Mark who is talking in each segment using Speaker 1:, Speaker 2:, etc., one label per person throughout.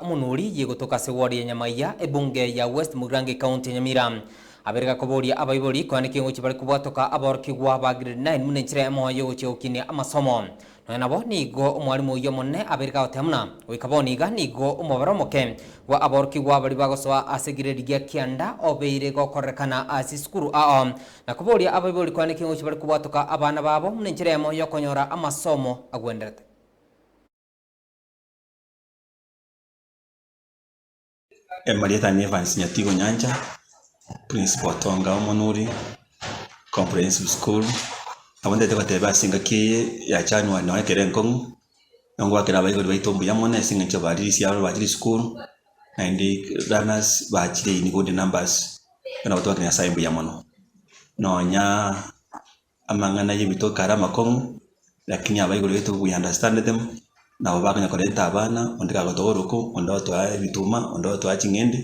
Speaker 1: Omonwa oria yegotoka ase ward ya Nyamaiya, ebunge ya West Mugirango ecounty ya Nyamira, aberega koboria abaibori koende kengochia bare kobwatoka aborokigwa ba grade nine buna enchera yamoyo yogochia gokinia amasomo. Nonya nabo nigo omwalimu oyio omonene aberega goteba buna goika bono iga nigo omobare omoke bwa aborokigwa baria bagosoa ase grade gia kianda obeire gokororekana ase esukuru ao na koboria abaibori koende kengochia bare kobwatoka abana babo buna enchera yamoyo yokonyora amasomo agwenderete.
Speaker 2: Emarieta ne Evans Nyatigo Nyancha, Principal Tonga Omonuri Comprehensive School, nabo ntagete goteba ase engaki eye ya January nonye ekero enkong'u, nigo ngoakera abaibori baito mbuya mono ase eng'encho bari risiaro bachire esukuru, naende learners bachire in good numbers, bono nabo twakire Nyasaye mbuya mono. Nonya Amang'ana ayio gotoka are amakong'u, lakini aba igoro yaito we understand them, nabo bakonyora korenta abana, onde gagotoa oroko, onde otoa ebituma, onde otoa ching'ende,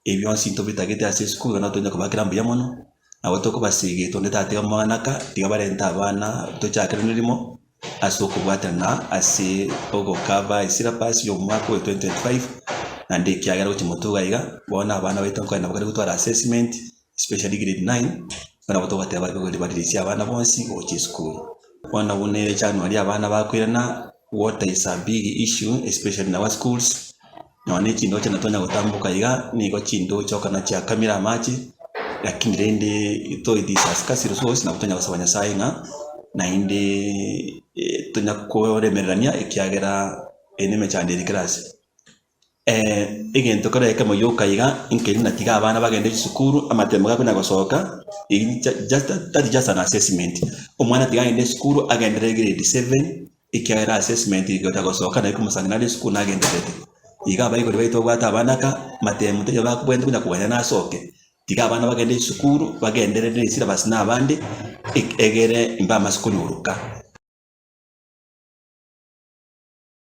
Speaker 2: ebi bionsi ntobitagete ase isiko igo nabo tonya kobakera mbuya mono, nabo tokobaseegete onde tatiga amang'ana aka, tiga barente abana tochakere nerimo ase okobwatana ase ogokaba esyllabus ya omwaka oyo 2025, naende ekiagera gochia moto iga iga, bono abana baito nkonya nabo bakare gotwara assessment, especially grade nine, bono nabo togoteeba gose baririsie abana bonsi gocha esukuru. Bono buna ere January abana bakoirana water is a big issue especially in our schools, nonya na echindoche natonya gotamboka iga, nigo chindoche okona chiakamire amache, lakini rende though it is a scarce resource, nabo tonya gosaba Nyasae ng'a naende tonya koremererania ekiagera eye nemechando ere kera ase. egento kera ekemo yoka iga inkeri natiga abana bagende chisukuru amatemo gakwe na gosoka eri just that is just an assessment omwana tiga agende esukuru agendere egrade seven ekiagera assessment eye goeta gosoka naye komosani nare esukuru nagendererete iga abaibori baito babwate abana ka amatemo tari abakobwenerete buna kogania na asoke tiga abana bagende chisukuru bagendere ne syllabus na abande egere mbaamase konyoruka.